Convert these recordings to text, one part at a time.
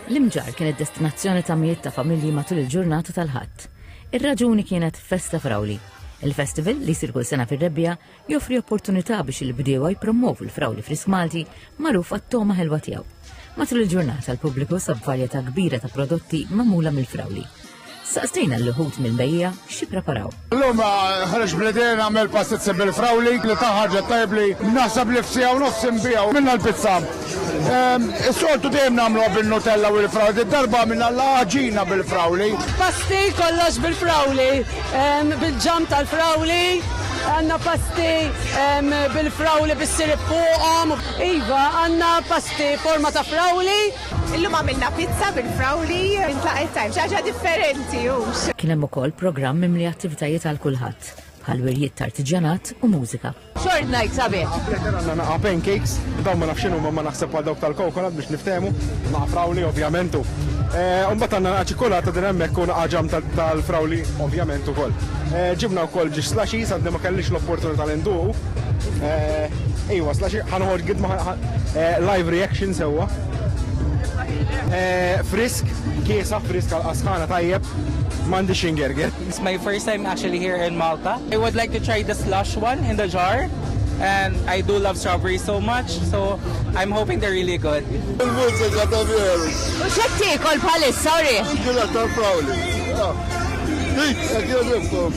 L-Imġarr kienet destinazzjoni ta' mijiet ta' familji matul il-ġurnata tal-Ħadd. Ir-raġuni kienet festa frawli. Il-festival li jsir kull sena fir-Rebbiegħa joffri opportunità biex il-bdiewa jipprommovu l-frawli frisk Malti magħruf għat-togħma ħelwa tiegħu. Matul il-ġurnata l-pubbliku sab varjetà kbira ta' prodotti magħmula mill-frawli. Saqsejna l-ħut mill-bejja xi preparaw. L-lum ah, ħarġ bledin għamel pastizzi bil-frawli li taħħarġa tajbli naħseb li f'sija u nofs imbijaw minna l-pizza. Ehm, is-soltu dejjem nagħmlu bil-nutella u l-frawli, darba minna l-ħaġina bil-frawli. Pasti kollox bil-frawli, ehm, bil-ġam tal-frawli, għanna pasti ehm, bil-frawli bis-sirip fuqhom. Iva, għanna pasti forma ta' frawli, Illum għamilna pizza bil-frawli minn tlaqet tajm, xaġa differenti hux. Kien hemm ukoll programm mimli attivitajiet għal kulħadd, bħal wirjiet t'artiġjanat u mużika. Short night sabiħ. Għandna naqa' pancakes, dawn ma nafx x'inhuma ma naħseb bħal dawk tal-coconut biex niftehmu, naqa' frawli ovvjament u mbagħad għandna naqa' ċikkulata din hemmhekk u naqa' ġam tal-frawli ovvjament ukoll. Ġibna wkoll ġiex slushies, għadni ma kellix l-opportunità li nduqu. Iwa, slushies, ħa noħorġ gidma, Live reaction sewwa. Frisk, kiesa frisk għal-qasħana tajjeb. Mandi xingerger. It's my first time actually here in Malta. I would like to try the slush one in the jar. And I do love strawberries so much, so I'm hoping they're really good. Il-mużika ta' veru. U xek tikol bħalissa, sorry. Għila ta' frawli. Dik, għak jodibkom.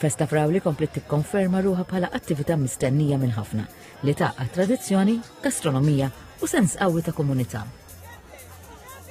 Festa Frawli kompliet tikkonferma ruħha bħala attività mistennija minn ħafna li tgħaqqad tradizzjoni, gastronomija u sens qawwi ta' komunità.